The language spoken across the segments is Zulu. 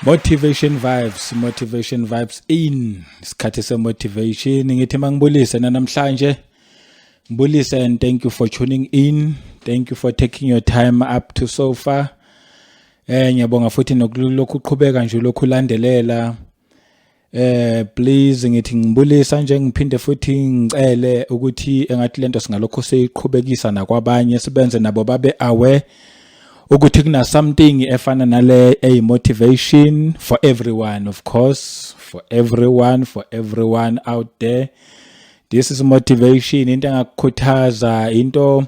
motivation vibes motivation vibes in isikhathi semotivation ngithi mangibulise nanamhlanje ngibulise and thank you for tuning in thank you for taking your time up to so far eh ngiyabonga futhi nokulokhu uqhubeka nje lokhu landelela eh please ngithi ngibulisa nje ngiphinde futhi ngicele ukuthi engathi lento singalokho siyiqhubekisa nakwabanye sibenze nabo babe aware ukuthi kuna something efana nale a motivation for everyone of course for everyone for everyone out there this is motivation into engakukhuthaza into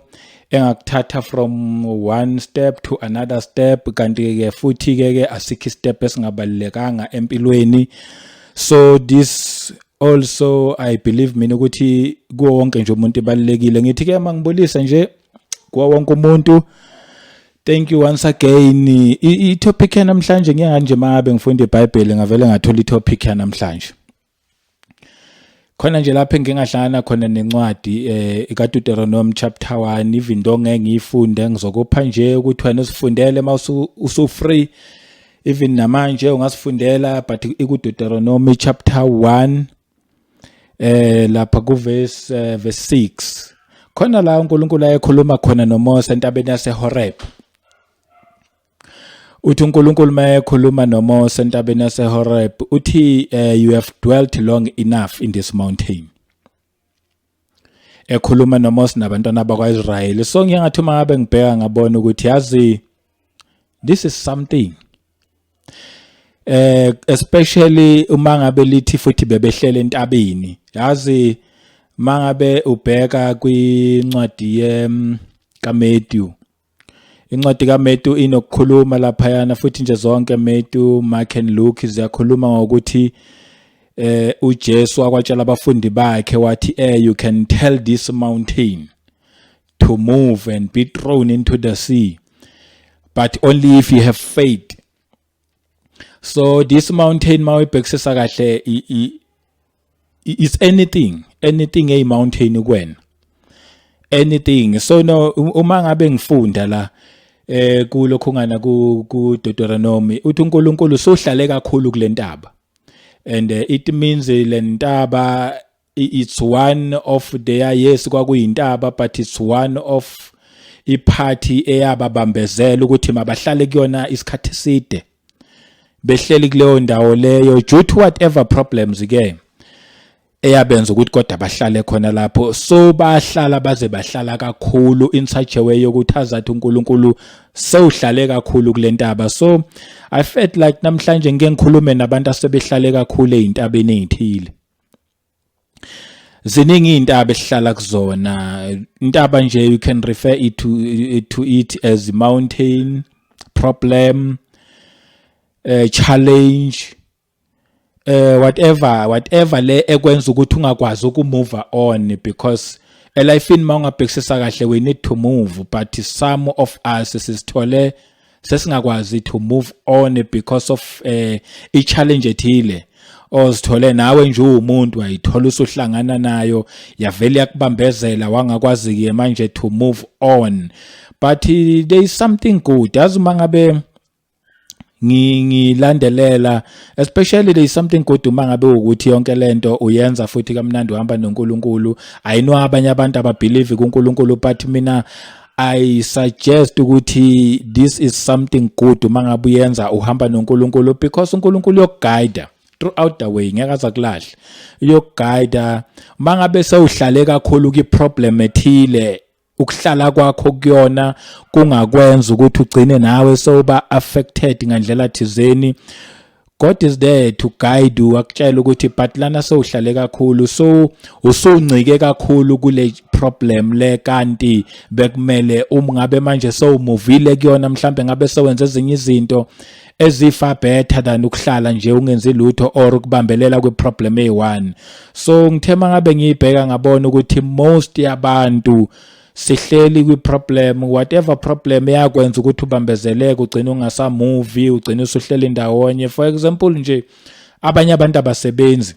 engakuthatha from one step to another step kanti ke futhi ke ke asikho step esingabalekanga empilweni so this also i believe mina ukuthi kuwo wonke nje umuntu ebalekile ngithi ke mangibulisa nje kuwo wonke umuntu Thank you once again. I topic namhlanje ngiyanganje mabe ngifunda iBhayibheli ngavele ngathola i topic namhlanje. khona nje lapho engingahlangana khona nencwadi eh kaDeuteronomy chapter 1 even into ngeke ngiyifunde ngizokupha nje ukuthi wena usifundele uma usu free even namanje ungasifundela but ikuDeuteronomy chapter 1 eh lapha ku verse eh, verse 6 khona la uNkulunkulu ayekhuluma khona noMose entabeni yaseHoreb uthi uNkulunkulu mayekhuluma noMose entabeni yaseHoreb uthi eh, you have dwelt long enough in this mountain ekhuluma noMose nabantwana bakwaIsrayeli so ngiyangathi uma ngabe ngibheka ngabona ukuthi yazi this is something eh especially uma ngabe lithi futhi bebehlele entabeni yazi mangabe ubheka kwincwadi ye mm, kaMatthew Incwadi kaMetu inokukhuluma laphayana futhi nje zonke Metu, Mark and Luke ziyakhuluma ngokuthi eh uJesu wakwatshela abafundi bakhe wathi eh you can tell this mountain to move and be thrown into the sea but only if you have faith so this mountain mawibhekisisa kahle is anything anything eyi mountain kuwena anything so no uma ngabe ngifunda la eh kulokho ngana ku Deuteronomy uthi uNkulunkulu sohlale kakhulu kulentaba and eh, it means lentaba it's one of their yes kwakuyintaba but it's one of iphathi eyababambezela ukuthi mabahlale kuyona isikhathi eside behleli kuleyo ndawo leyo due to whatever problems ke eyabenza ukuthi kodwa bahlale khona lapho so bahlala baze bahlala kakhulu in such a way yokuthi azathi uNkulunkulu sewuhlale kakhulu kulentaba so i felt like namhlanje ngeke ngikhulume nabantu asebehlale kakhulu ezintabeni ezithile ziningi intaba esihlala kuzona intaba nje you can refer it to, to it as mountain problem uh, challenge uh, whatever whatever le ekwenza ukuthi ungakwazi ukumove on because elifini mawungabhekisisa kahle we need to move but some of us sisithole sesingakwazi to move on because of eh i challenge ethile ozithole nawe nje uwumuntu wayithola usuhlangana nayo yavele yakubambezela wangakwazi ke manje to move on but eh, there is something good as uma ngabe ngilandelela especially there is something good uma ngabe ukuthi yonke lento uyenza futhi kamnandi uhamba noNkulunkulu ayino abanye abantu ababelieve kuNkulunkulu but mina I suggest ukuthi this is something good uma ngabe uyenza uhamba noNkulunkulu because uNkulunkulu uyokuguide throughout the way ngeke azakulahle uyokuguide uma ngabe sewuhlale kakhulu ki problem ethile ukuhlala kwakho kuyona kungakwenza ukuthi ugcine nawe sewuba affected ngandlela thizeni God is there to guide you akutshela ukuthi but lana sowuhlale kakhulu so usuncike kakhulu kule problem le kanti bekumele uma ngabe manje sowumuvile kuyona mhlambe ngabe sowenza ezinye izinto ezifa better than ukuhlala nje ungenzi lutho or ukubambelela kwi problem eyi1 so ngithema ngabe ngiyibheka ngabona ukuthi most yabantu sihleli kwi-problem whatever problem eyakwenza ukuthi ubambezeleke ugcine ungasamuvi ugcine usuhleli ndawonye for example nje abanye abantu abasebenzi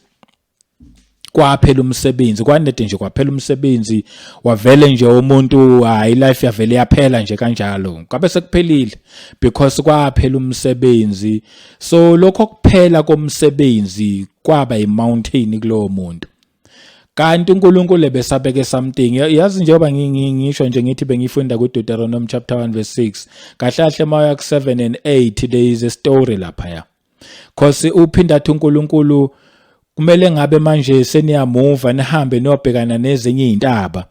kwaphela umsebenzi kwanede nje kwaphela umsebenzi wavele nje umuntu hayi life yavele yaphela nje kanjalo kwabe sekuphelile because kwaphela umsebenzi so lokho kuphela komsebenzi kwaba imountain kulowo muntu kanti uNkulunkulu ebesabeke something yazi njengoba ngisho nje ngithi bengifunda kuDeuteronomy chapter 1 verse 6 kahle kahle mawuya ku7 and 8 there is a story lapha ya cause uphinda athi uNkulunkulu kumele ngabe manje seniyamuva nihambe niyobhekana nezinye izintaba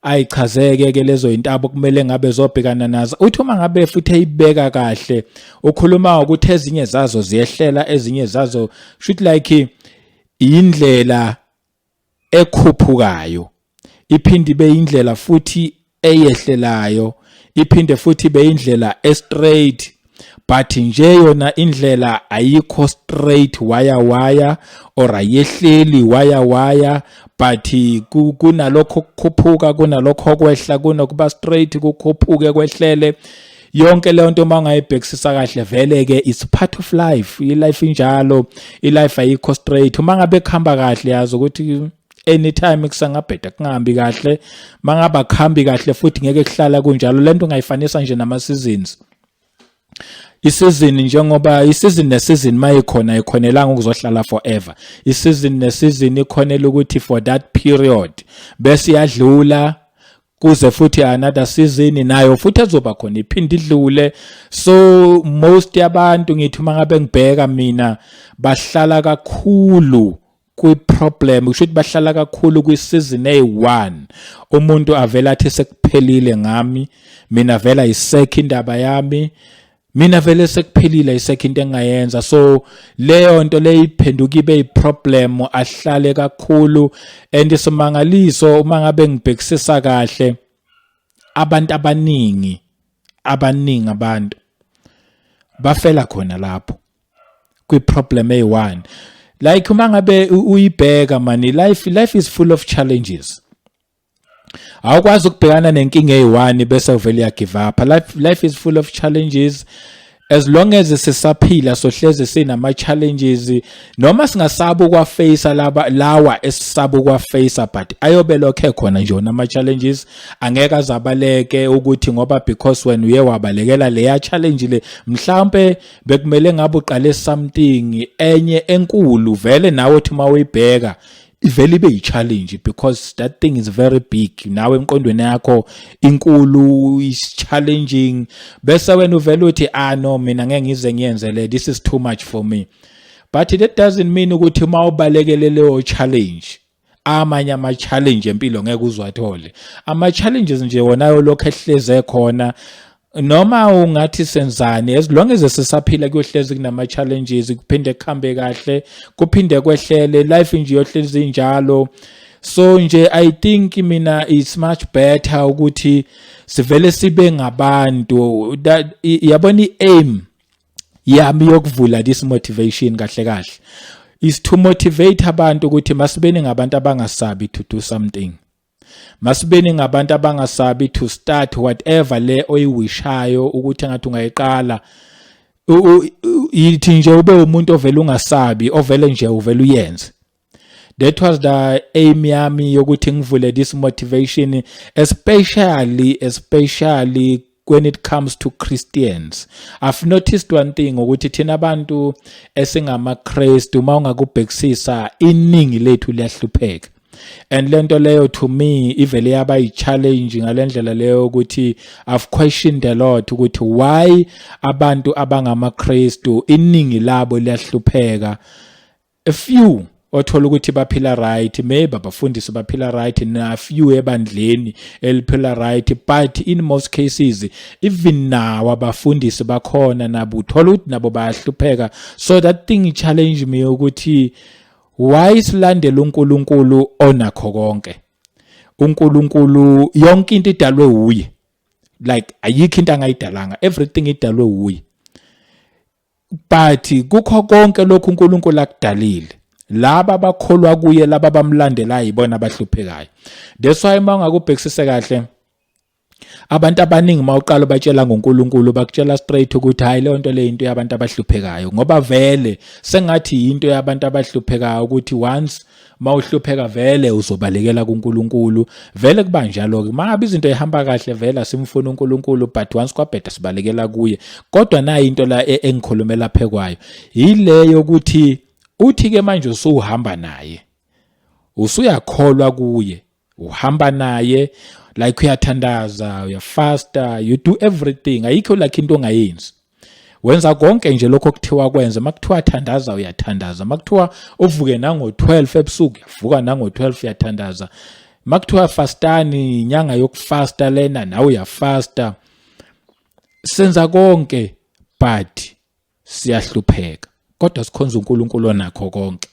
ayichazeke ke lezo intaba kumele ngabe zobhekana nazo uthi uma ngabe futhi eyibeka kahle ukhuluma ukuthi ezinye zazo ziyehlela ezinye zazo should like Indlela ekhuphukayo iphinde ibe indlela futhi eyehlelayo iphinde futhi ibe indlela estraight but nje yona indlela ayikho straight waya waya or ayehleli waya waya but kunalokho kukhuphuka kunalokho kwehla kunokuba straight kukhuphuke kwehlele yonke leyo nto uma ungayibhekisisa kahle vele ke it's part of life i-life injalo i-life ayikho straight uma ngabe kuhamba kahle yazi ukuthi anytime kusangabheda kungahambi kahle mangaba kuhambi kahle futhi ngeke kuhlala kunjalo lento ungayifanisa nje nama seasons isizini njengoba isizini nesizini mayikhona ikhonelanga ukuzohlala forever isizini nesizini ikhonela ukuthi for that period bese iyadlula kuze futhi another season nayo futhi azoba khona iphinde idlule so most yabantu ngithi uma ngabe ngibheka mina bahlala kakhulu kwi-problem kusho ukuthi bahlala kakhulu kwi-season eyi-one umuntu avele athi sekuphelile ngami mina vela yisekho indaba yami mina vele sekuphelile isekho into engayenza so leyo nto leyiphenduka ibe iproblem ahlale kakhulu and isimangaliso uma ngabe ngibhekisisa kahle abantu abaningi abaningi abantu bafela khona lapho kwiproblem eyi-one like uma ngabe uyibheka mani life life is full of challenges awukwazi ukubhekana nenkinga eyi-one bese uvele uyagive up life, life is full of challenges as long as sisaphila sohlezi sinama challenges noma singasaba ukwaface laba lawa esisaba ukwaface but ayobe lokhe khona nje nama challenges angeke azabaleke ukuthi ngoba because when uye wabalekela leya challenge le mhlambe bekumele ngabe uqale something enye enkulu vele nawe uthi mawuyibheka ivele ibe yi-challenge because that thing is very big nawe emqondweni yakho inkulu is challenging bese wena uvele uthi ah no mina ngeke ngize ngiyenze le this is too much for me but that doesn't mean ukuthi uma ubalekele leyo challenge amanye ama-challenge empilo ngeke uziwathole ama-challenges nje wona yolokhu ehleze khona noma ungathi senzani as long as sisaphila kuyohlezi kunama challenges kuphinde kuhambe kahle kuphinde kwehlele life nje yohlezi njalo so nje i think mina it's much better ukuthi sivele sibe ngabantu that yabona iaim yami yokuvula this motivation kahle kahle is to motivate abantu ukuthi masibeni ngabantu abangasabi to do something masibeni ngabantu abangasabi to start whatever le oyiwishayo ukuthi ngathi ungayiqala yithi nje ube umuntu ovele ungasabi ovele nje uvele uyenze that was the aim yami yokuthi ngivule this motivation especially especially when it comes to Christians. I've noticed one thing ukuthi thina abantu esingamaKristu uma ungakubhekisisa iningi lethu liyahlupheka. and lento leyo to me ivele yaba i-challenge ngalendlela leyo ukuthi i've questioned a lot ukuthi why abantu abangamaKristu iningi labo liyahlupheka a few othola ukuthi baphila right maybe abafundisi baphila right na few ebandleni eliphila right but in most cases even now abafundisi bakhona nabo uthola ukuthi nabo bayahlupheka so that thing challenge me ukuthi why silandela uNkulunkulu onakho konke uNkulunkulu yonke into idalwe uye like ayikho into angayidalanga everything idalwe uye but kukho konke lokhu uNkulunkulu akudalile laba abakholwa kuye laba bamlandelayo ibona abahluphekayo that's why uma ungakubhekisise kahle abantu abaningi uma uqala ubatshela ngoNkulunkulu bakutshela straight ukuthi hayi leyo nto le into yabantu abahluphekayo ngoba vele sengathi yinto yabantu abahluphekayo ukuthi once uma uhlupheka vele uzobalekela kuNkulunkulu vele kuba njalo ke mangabe izinto ihamba kahle vele asimfuni uNkulunkulu but once kwabheda sibalekela kuye kodwa nayi into la e, engikhulumela phekwayo yileyo ukuthi uthi ke manje usuhamba naye usuyakholwa kuye uhamba naye like uyathandaza uyafasta you do everything ayikho lakhe into ongayenzi wenza konke nje lokho okuthiwa kwenze makuthiwa thandaza uyathandaza makuthiwa uvuke nango-12 ebusuku uyavuka nango-12 uyathandaza makuthiwa fastani inyanga yokufasta lena nawe uyafasta senza konke but siyahlupheka kodwa sikhonza uNkulunkulu onakho konke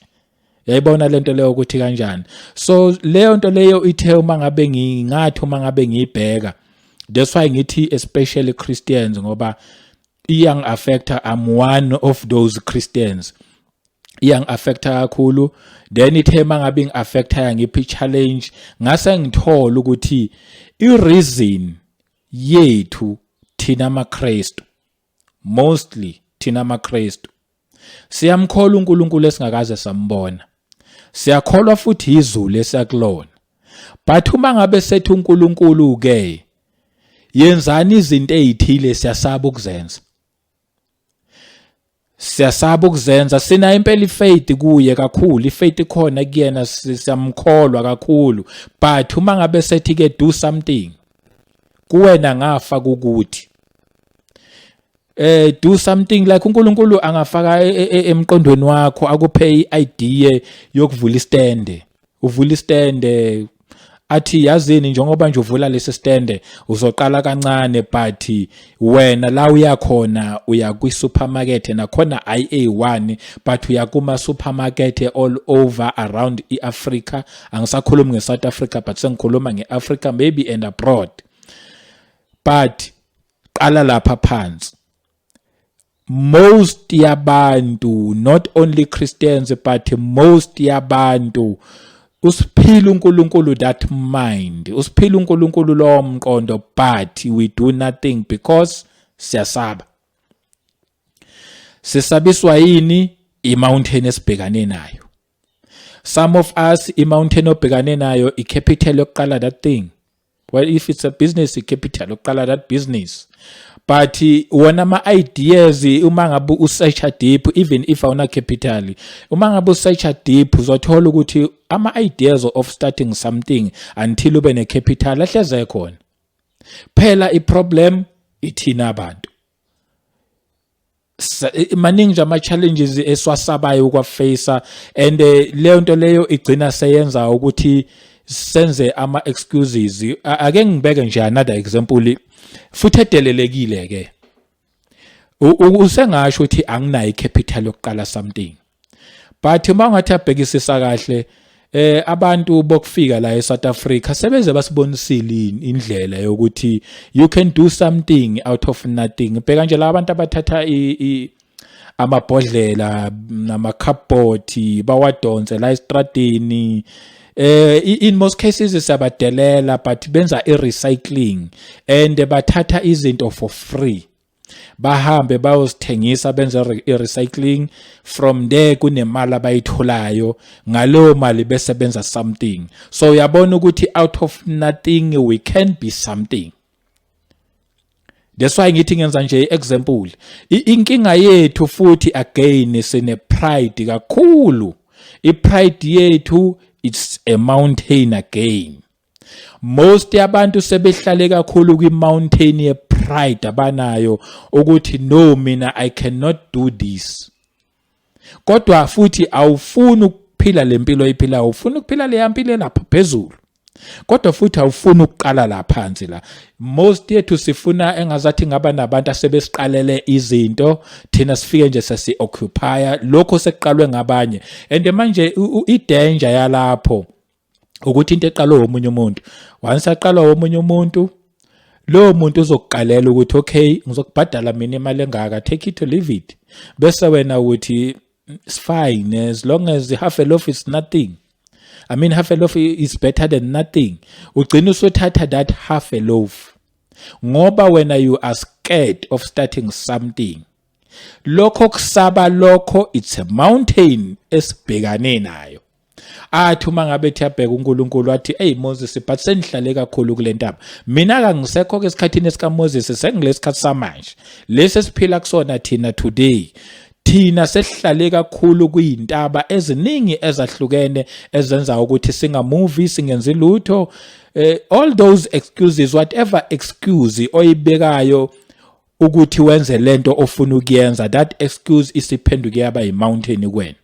yayibona lento leyo ukuthi kanjani so leyo nto leyo ithe uma ngabe ngingathi uma ngabe ngiyibheka that's why ngithi especially Christians ngoba iyang affecta I'm one of those Christians iyang affecta kakhulu then ithe mangabe ing affecta ngiphi challenge ngase ngithola ukuthi i reason yethu thina amaKristu mostly thina maKristu siyamkholwa uNkulunkulu esingakaze sambona siyakholwa futhi izulu esiyakulona but uma ngabe sethi uNkulunkulu ke yenzani izinto ezithile siyasaba ukuzenza siyasaba ukuzenza sina impela ifaith kuye kakhulu ifaith ikhona kuyena siyamkholwa kakhulu but uma ngabe sethi ke do something kuwena ngafa ukuthi eh do something like uNkulunkulu angafaka e, e, e, emqondweni wakho akuphe iidea yokuvula istande uvula istande athi yazini njengoba nje uvula lesi stande uzoqala kancane but wena la uyakhona uya kwi supermarket nakhona IA1 but uya kuma supermarket all over around iAfrica angisakhulumi ngeSouth Africa but sengikhuluma ngeAfrica maybe and abroad but qala lapha phansi most yabantu not only christians but most yabantu usiphila uNkulunkulu that mind usiphila uNkulunkulu lo mqondo but we do nothing because siyasaba sisabiswa yini imountain esibhekane nayo some of us imountain obhekane nayo icapital yokuqala that thing well if it's a business capital yokuqala that business but wona ama ideas uma ngabe usearch deep even if awuna capital uma ngabe usearch deep uzothola ukuthi ama ideas of starting something until ube ne capital ahleze khona phela i problem ithina abantu maningi nje ama-challenges esiwasabayo ukwafeyisa and eh, leyo nto leyo igcina seyenza ukuthi senze ama-excuses ake ngibeke nje another example futhi edelelekile-ke usengasho ukuthi anginayo i-capital yokuqala something but uma ungathi abhekisisa kahle eh abantu bokufika la eSouth Africa sebeze basibonisile indlela yokuthi you can do something out of nothing bheka nje la abantu abathatha i amabhodlela namakhabhothi bawadonse la estradini eh in most cases siyabadelela but benza i recycling and bathatha izinto for free bahambe bayosithengisa benze i-recycling from there kunemali abayitholayo ngaleyo mali besebenza something so uyabona ukuthi out of nothing we can be something that's why ngithi ngenza nje i-example inkinga yethu futhi again sine-pride kakhulu i-pride yethu it's a mountain again most yabantu sebehlale kakhulu kwi-mountain ye-pride abanayo ukuthi no mina i cannot do this kodwa futhi awufuni ukuphila le mpilo oyiphilayo ufuna ukuphila leya mpilo elapha phezulu kodwa futhi awufuni ukuqala la phansi la most yethu sifuna engazathi ngaba nabantu asebesiqalele izinto thina sifike nje sesi occupier lokho sekuqalwe ngabanye and manje i danger yalapho ukuthi into eqalwe womunye umuntu once aqalwa womunye umuntu lowo muntu uzokuqalela ukuthi okay ngizokubhadala mina imali engaka take it or leave it bese wena ukuthi it's fine as long as half a loaf is nothing i mean half a loaf is better than nothing ugcina usuthatha that half a loaf ngoba wena you are scared of starting something lokho kusaba lokho it's a mountain esibhekane nayo athi uma ngabe ethi abheka uNkulunkulu athi hey Moses but sengihlale kakhulu kule ntaba mina kangisekho ke esikhathini esika Moses sengilesikhathi samanje lesi esiphila kusona thina today thina sesihlale kakhulu kuyintaba eziningi ezahlukene ezenza ukuthi singamuvi singenzi lutho eh, all those excuses whatever excuse oyibekayo ukuthi wenze lento ofuna ukuyenza that excuse isiphenduke yaba yi mountain kuwena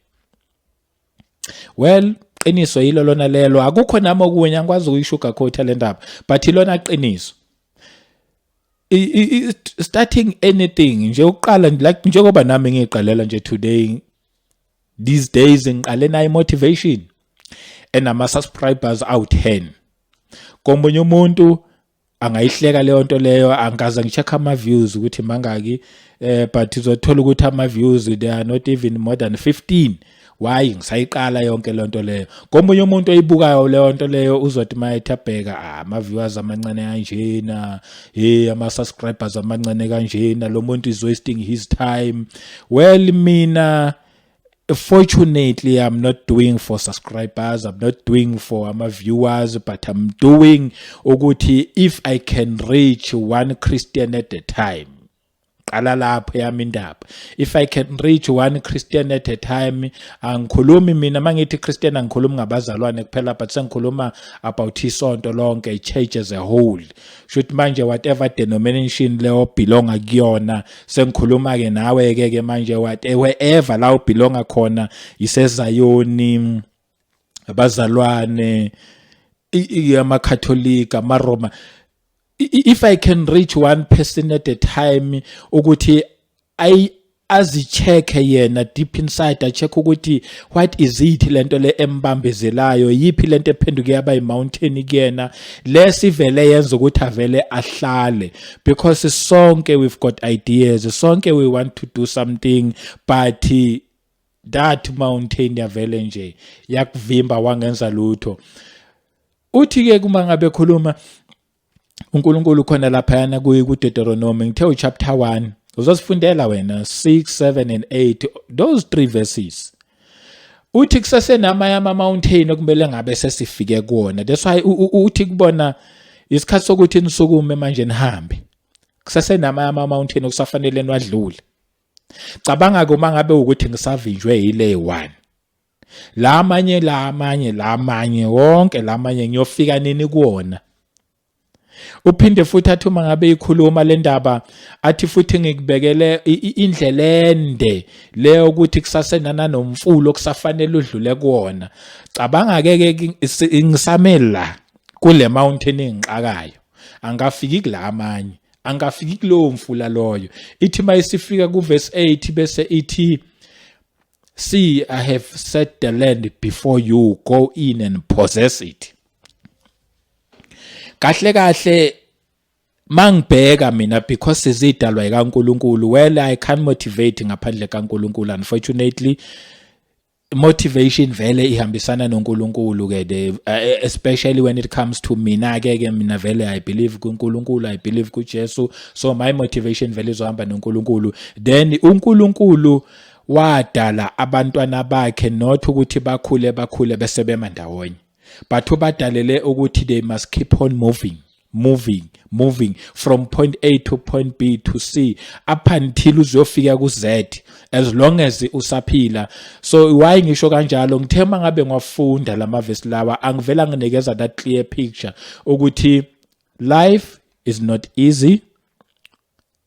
well qiniso yilo lona lelo akukho nami okunye angikwazi ukuyishuga coat le ndaba but ilona qiniso starting anything nje uqala like njengoba nami ngiqalela nje today these days ngiqale nayo motivation enama subscribers awu 10 komunye umuntu angayihleka leyo nto leyo angikaze ngi-check ama-views ukuthi mangaki um but uzothola ukuthi ama-views they are not even more than 15 why ngisayiqala yonke loo nto leyo komunye umuntu oyibukayo leyo nto leyo uzothi uma ethi abheka ah, ama-viewers amancane kanjena he ama-subscribers amancane kanjena lo muntu is wasting his time well mina fortunately i'm not doing for subscribers i'm not doing for ama viewers but i'm doing ukuthi if i can reach one christian at a time qala lapho yami indaba if i can reach one christian at a time angikhulumi mina mangithi christian angikhulumi ngabazalwane kuphela but sengikhuluma about isonto lonke i church as a whole shuthi manje whatever denomination leyo belonga kuyona sengikhuluma ke nawe ke ke manje whatever la ubelonga khona isezayoni abazalwane amakhatholika amaroma if i can reach one person at a time ukuthi azicheke yena deep inside acheck ukuthi what is it lento le embambezelayo yipi lento ephenduke yaba i mountain kuyena lesivele yenza ukuthi avele ahlale because sonke we've got ideas sonke we want to do something but that mountain yavele nje yakuvimba wangenza lutho uthi ke kuma ngabe khuluma uNkulunkulu khona laphayana kuDeuteronomy ngithe uchapter 1 uzosifundela wena 6 7 and 8 those three verses uthi kusesenamanye ama-mountain okumele ngabe sesifike kuwona that's why uthi kubona isikhathi sokuthi nisukume manje nihambe kusesenamanye ama-mountain okusafanele niwadlule cabanga-ke uma ngabe ukuthi ngisavinjwe yile one la amanye la amanye la amanye wonke la amanye ngiyofika nini kuwona uphinde futhi athi uma ngabe ikhuluma le ndaba athi futhi ngikubekele indlela ende leyo ukuthi kusasenana nomfulo okusafanele udlule kuwona cabanga ke ke ngisamela kule mountain engixakayo angafiki kula amanye angafiki kulowo mfula loyo ithi mayisifika kuvesi 8 bese ithi See, I have set the land before you. Go in and possess it. Kahle kahle mangibheka mina because sizidalwa ikaNkuluNkulu. Well, I can't motivate ngaphandle kaNkuluNkulu unfortunately. motivation vele ihambisana noNkulunkulu ke the eh, especially when it comes to mina ke ke mina vele i believe kuNkulunkulu i believe kuJesu so my motivation vele izohamba noNkulunkulu then uNkulunkulu wadala abantwana bakhe not ukuthi bakhule bakhule bese bema ndawonye but ubadalele ukuthi they must keep on moving moving moving from point A to point B to C up until uzofika ku Z as long as usaphila so why ngisho kanjalo ngithe mangabe ngwafunda lama verse lawa angivela nginikeza that clear picture ukuthi life is not easy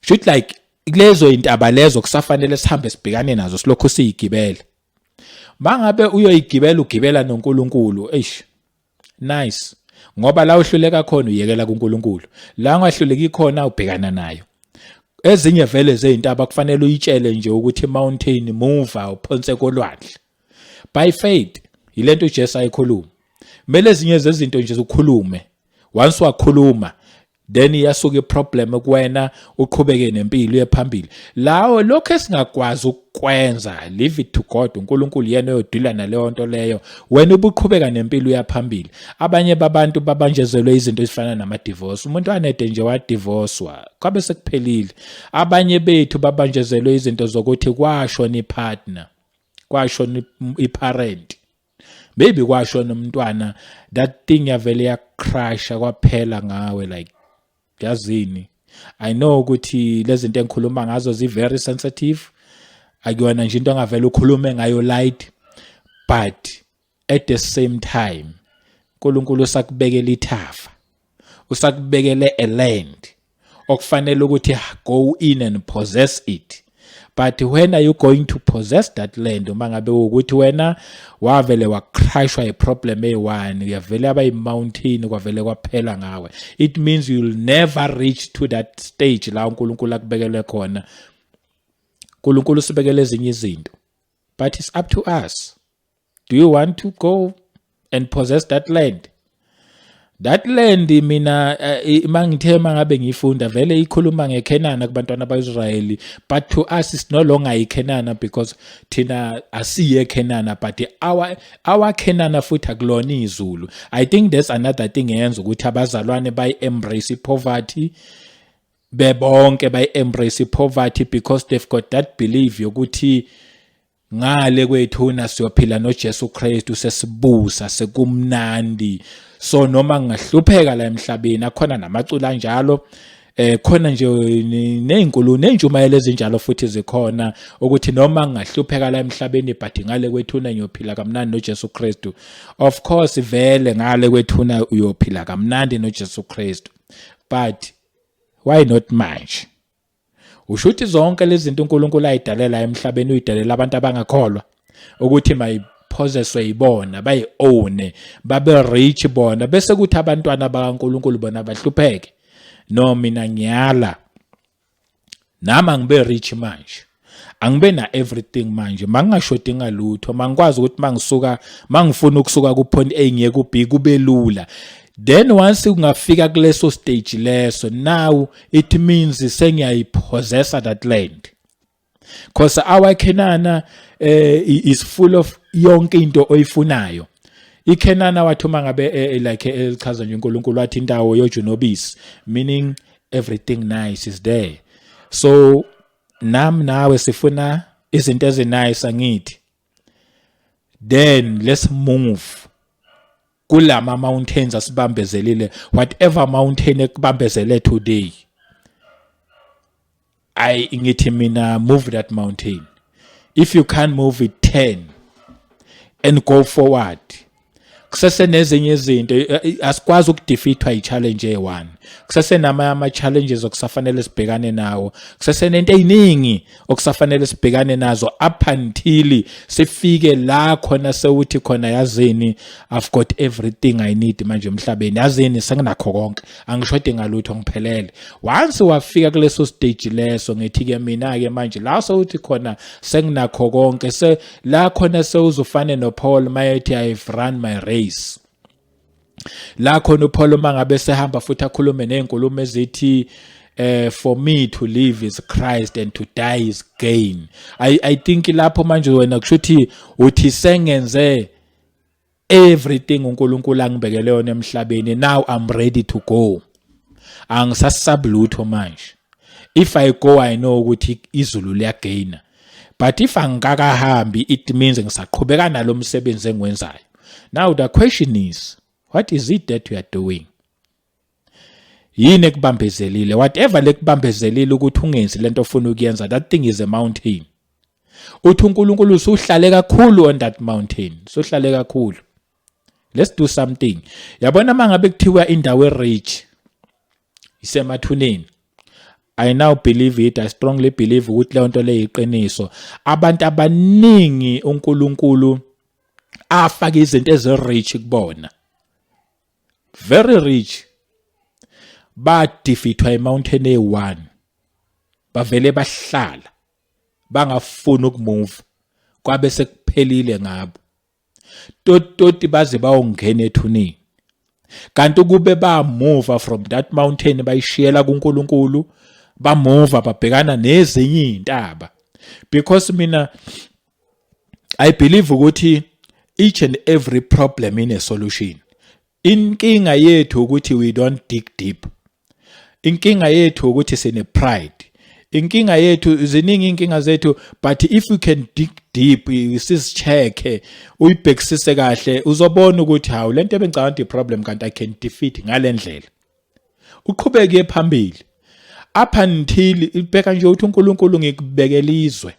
Should like lezo intaba lezo kusafanele sihambe sibhekane nazo silokhu siyigibela. Mangabe uyoyigibela ugibela noNkulunkulu, eish. Nice. Ngoba la uhluleka khona uyekela kuNkulunkulu. La ungahluleki khona ubhekana nayo. Ezinye vele zeintaba kufanele uyitshele nje ukuthi mountain move uphonse kolwandle. By faith yilento uJesu ayikhuluma. Kumele ezinye zezinto nje ukhulume. Once wakhuluma then iyasuka iproblem kuwena uqhubeke nempilo uye phambili lawo lokho esingakwazi ukwenza leave it to God uNkulunkulu yena oyodila naleyo nto leyo wena ubuqhubeka nempilo uyaphambili abanye babantu babanjezelwe izinto ezifana nama divorce umuntu anede nje wa divorcewa kwabe sekuphelile abanye bethu babanjezelwe izinto zokuthi kwasho ni partner kwasho ni parent maybe kwasho nomntwana that thing yavele yacrasha kwaphela ngawe like yazini i know ukuthi lezinto engikhuluma ngazo zi very sensitive akuyona nje into angavela ukhulume ngayo light but at the same time uNkulunkulu usakubekela ithafa usakubekele a land okufanele ukuthi go in and possess it but when are you going to possess that land uma ngabe ukuthi wena wavele wacrashwa iproblem eyi-one uyavele aba yi-mountain kwavele kwaphela ngawe it means you'll never reach to that stage la unkulunkulu akubekele khona unkulunkulu usibekele ezinye izinto but it's up to us do you want to go and possess that land that land mina eh, mangithe mangabe ngifunda vele ikhuluma ngeKenana kubantwana baIsrayeli but to us is no longer iKenana because thina asiye Kenana but our our Kenana futhi akulona izulu i think there's another thing eyenza ukuthi abazalwane bayi embrace poverty bebonke bayi embrace poverty because they've got that belief yokuthi ngale kwethuna siyophila noJesu Kristu sesibusa sekumnandi so noma ngingahlupheka la emhlabeni akhona namacula njalo eh khona nje nezinkulu nenjumayelo ezinjalo futhi zikhona ukuthi noma ngahlupheka la emhlabeni but ngale kwethuna ngiyophila kamnandi noJesu Kristu of course vele ngale kwethuna uyophila kamnandi noJesu Kristu but why not manje usho ukuthi zonke lezi zinto uNkulunkulu ayidalela emhlabeni uyidalela abantu abangakholwa ukuthi mayiphozeswe yibona bayi-owne babe rich bona bese kuthi abantwana bakaNkulunkulu bona bahlupheke no mina ngiyala nami angibe rich manje angibe na everything manje mangingashodi ngalutho mangikwazi ukuthi mangisuka mangifuna ukusuka ku point A ngiye ku B kubelula then once ungafika kuleso stage leso now it means sengiyayipossessa that land because our Kenana uh, eh, is full of yonke into oyifunayo ikhenana wathi uma ngabe eh, eh, like elichaza nje uNkulunkulu wathi indawo yojunobisi meaning everything nice is there so Nam nawe sifuna izinto ezinice angithi. Then let's move kulama mountains asibambezelile whatever mountain ekubambezele today I ngithi mina move that mountain if you can't move it turn and go forward kusese nezinye izinto eh, eh, asikwazi ukudefeatwa yi-challenge eyi-one kusese namanye ama-challenges okusafanele sibhekane nawo kusese nento ey'ningi okusafanele sibhekane nazo up until sifike la khona sewuthi khona yazini i've got everything i need manje emhlabeni yazini senginakho konke angishode ngalutho ngiphelele once wafika kuleso stage leso ngithi-ke mina-ke manje la sewuthi khona senginakho konke la khona sewuzufane noPaul mayethi I've run my race la khona uPaul uma ngabe sehamba futhi akhulume nezinkulumo ezithi eh for me to live is Christ and to die is gain i i think lapho manje wena kushuthi uthi sengenze everything uNkulunkulu angibekele yona emhlabeni now I'm ready to go angisasab lutho manje if I go I know ukuthi izulu liyagaina but if angikakahambi it means ngisaqhubeka nalomsebenzi engiwenzayo now the question is what is it that you are doing yini ekubambezelile whatever lekubambezelile ukuthi ungenzi lento ofuna ukuyenza that thing is a mountain uthi uNkulunkulu usuhlale kakhulu on that mountain usuhlale kakhulu let's do something yabona mangabe kuthiwa indawo erich isemathuneni I now believe it I strongly believe ukuthi leyo nto leyo iqiniso abantu abaningi uNkulunkulu afaka izinto ezirich kubona very rich badifithwa emountain e1 bavele bahlala bangafuni ukumove kwabe sekuphelile ngabo tototi baze bawongena ethunini kanti ukube bamuva from that mountain bayishiyela kuNkulunkulu bamuva babhekana nezinye izintaba because mina i believe ukuthi each and every problem in a solution inkinga yethu ukuthi we don't dig deep inkinga yethu ukuthi sine pride inkinga yethu ziningi inkinga zethu but if you can dig deep sizicheke uyibhekisise kahle uzobona ukuthi hawu lento ebengicabanga problem kanti i can defeat ngalendlela uqhubeke phambili up until ibheka nje uthi uNkulunkulu ngikubekela izwe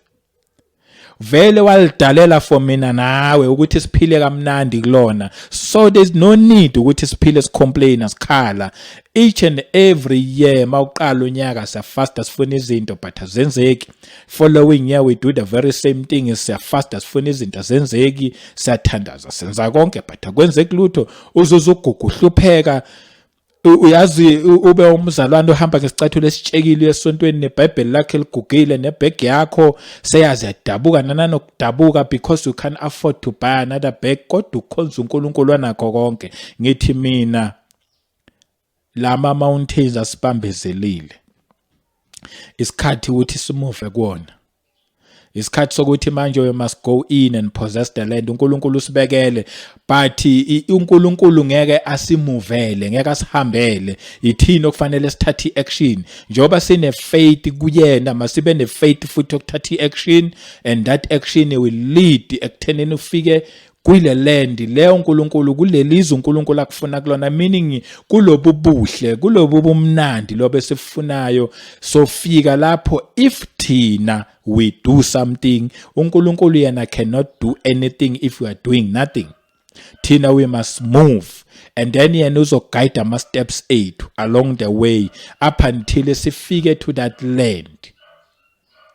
vele walidalela for mina nawe ukuthi siphile kamnandi kulona so there's no need ukuthi siphile sicomplain sikhala each and every year mawuqala unyaka siyafasta sifuna izinto but azenzeki following year we do the very same thing siyafasta sifuna izinto azenzeki siyathandaza senza konke but akwenzeki lutho uzuza ugugu uhlupheka uyazi ube umzalwane ohamba ngesicathulo esitshekile esontweni nebhayibheli lakhe ligugile nebhegi yakho seyazi yadabuka nananokudabuka because you can afford to buy another bag kodwa ukhonza unkulunkulu anakho konke ngithi mina lama mountains asibambezelile isikhathi ukuthi simuve kuwona isikhathi sokuthi manje we must go in and possess the land uNkulunkulu usibekele but uNkulunkulu ngeke asimuvele ngeke asihambele ithini okufanele sithathe iaction njoba sine faith kuyena masibe ne faith futhi okuthatha iaction and that action will lead ekuthenini ufike kuyile land le uNkulunkulu kulelizwe uNkulunkulu akufuna kulona meaning kulobu buhle kulobu bumnandi lobe sifunayo sofika lapho if thina we do something uNkulunkulu yena cannot do anything if we are doing nothing thina we must move and then yena uzoguide ama steps ethu along the way up until sifike to that land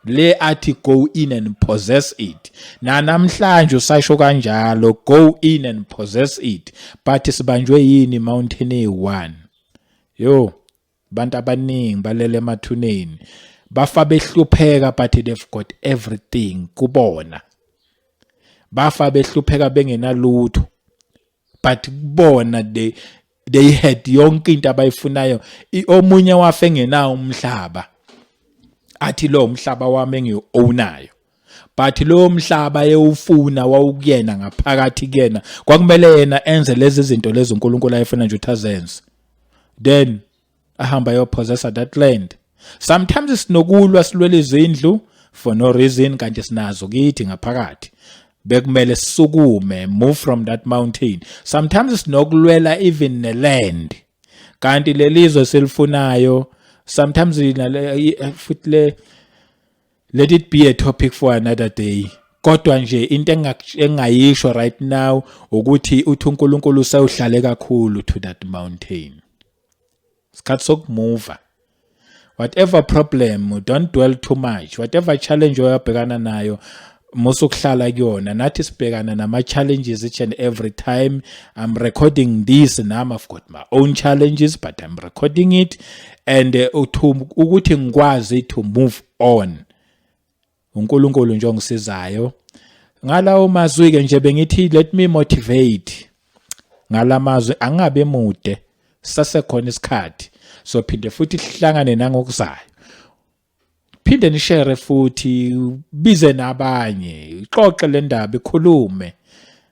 le athi go in and possess it nanamhlanje usasho kanjalo go in and possess it but sibanjwe yini mountain e1 yo abantu abaningi balele emathuneni bafa behlupheka but they've got everything kubona bafa behlupheka bengenalutho but kubona they they had yonke into abayifunayo omunye wafe engenawo umhlaba athi lo umhlaba wami engiownayo but lo mhlaba yewufuna wawukuyena ngaphakathi kuyena kwakumele yena enze lezi zinto lezi uNkulunkulu ayefuna nje ukuthi azenze then ahamba ayopossessa that land sometimes sinokulwa silwela izindlu for no reason kanti sinazo kithi ngaphakathi bekumele sisukume move from that mountain sometimes sinokulwela even neland kanti lelizwe selifunayo sometimes eh, futhi le let it be a topic for another day kodwa nje into engingayisho right now ukuthi uthi uNkulunkulu sewuhlale kakhulu to that mountain isikhathi sokumuva whatever problem don't dwell too much whatever challenge oyabhekana nayo musa ukuhlala kuyona nathi sibhekana nama-challenges each and every time i'm recording this nam i've got my own challenges but i'm recording it and uh, ukuthi ngikwazi to move on uNkulunkulu nje ongisizayo ngalawo mazwi ke nje bengithi let me motivate ngalamazwi angabe mude sasekhona isikhathi so phinde futhi sihlangane nangokuzayo phinde nishare futhi bize nabanye ixoxe le ndaba ikhulume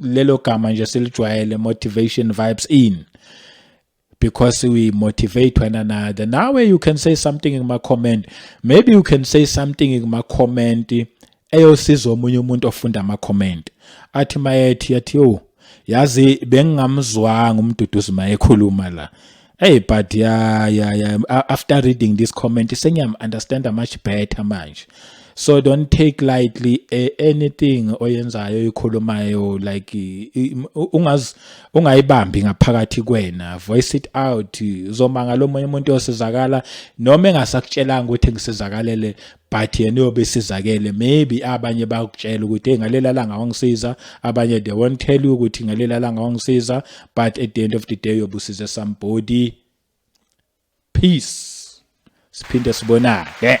lelo gama nje silijwayele motivation vibes in because we motivate one another nawe you can say something in my comment maybe you can say something in my comment eyosiza omunye umuntu ofunda ama comment athi mayethi yathi yo yazi bengingamzwanga umduduzi mayekhuluma la Hey but yeah yeah yeah after reading this comment sengiyam understand much better manje. So don't take lightly eh, anything oyenzayo ikhulumayo like ungaz ungayibambi ngaphakathi kwena voice it out uzomanga lomunye umuntu osizakala noma engasakutshelanga ukuthi ngisizakalele but yena uyobe esizakele maybe abanye bakutshela ukuthi hey ngalela langa wangisiza abanye they won't tell you ukuthi ngalela langa wangisiza but at the end of the day uyobe usize somebody peace siphinde sibonane yeah.